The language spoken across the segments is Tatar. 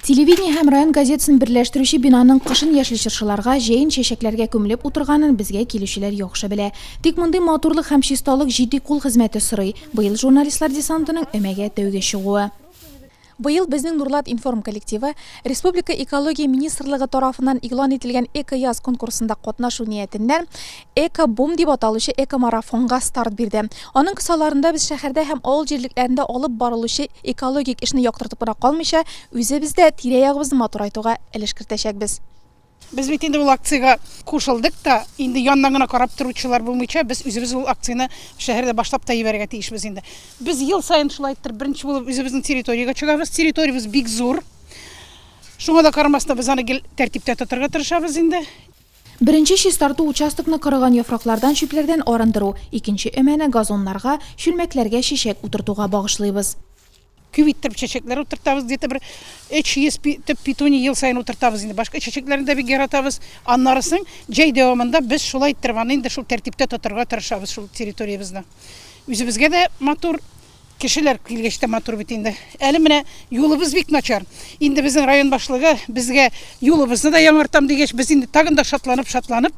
Телевидение һәм район газетасын берләштерүче бинаның кышын яшьле чыршыларга, җәен чәчәкләргә күмелеп утырганын безгә килүчеләр яхшы белә. Тик мондый матурлык һәм чисталык җитди кул хезмәте сорый. Быел журналистлар десантының өмәгә тәүге чыгуы. Быел безнең Нурлат информ коллективы Республика Экология министрлыгы тарафыннан игълан ителгән Эко-яз конкурсында катнашу ниятеннән Эко-бум дип аталучы экомарафонга старт бирде. Аның кысаларында без шәһәрдә һәм авыл җирлекләрендә алып барылучы экологик эшне яктыртып кына калмыйча, үзебез дә тирә-ягыбызны матурайтуга өлеш кертәчәкбез. Без бит инде ул акциягә кушылдык та, инде яннан гына карап торучылар булмыйча, без үзебез ул акцияне шәһәрдә башлап та җибәрергә тиешбез инде. Без ел саен шулай иттереп беренче булып үзебезнең территориягә чыгабыз. Территориябез бик зур. Шуңа да карамастан, без аны гел тәртиптә тотарга тырышабыз инде. Беренче чистарту участокны корыган яфраклардан, чүпләрдән арындыру, икенче өмәне газоннарга, чүлмәкләргә чәчәк утыртуга багышлыйбыз. Күп иттереп чәчәкләр утыртабыз, где-то бер 300 төп петуния ел саен утыртабыз инде. Башка чәчәкләрне дә бик яратабыз. Аннары соң җәй дәвамында без шулай иттереп аны инде шул тәртиптә тотарга тырышабыз шул территориябезне. Үзебезгә дә матур, Кешеләр килгәч тә матур бит инде. Әле менә юлыбыз бик начар. Инде безнең район башлыгы безгә юлыбызны да яңартам дигәч, без инде тагын да шатланып-шатланып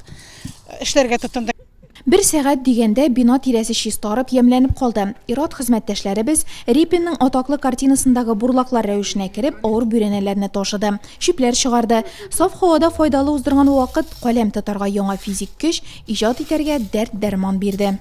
эшләргә тотындык. Бер сәгать дигәндә бина тирәсе чистарып, ямьләнеп калды. Ир-ат хезмәттәшләребез, Репинның атаклы картинасындагы бурлаклар рәвешенә кереп, авыр бүрәнәләрне ташыды, чүпләр чыгарды. Саф һавада файдалы уздырган вакыт каләм тотарга яңа физик көч, иҗат итәргә дәрт-дәрман бирде.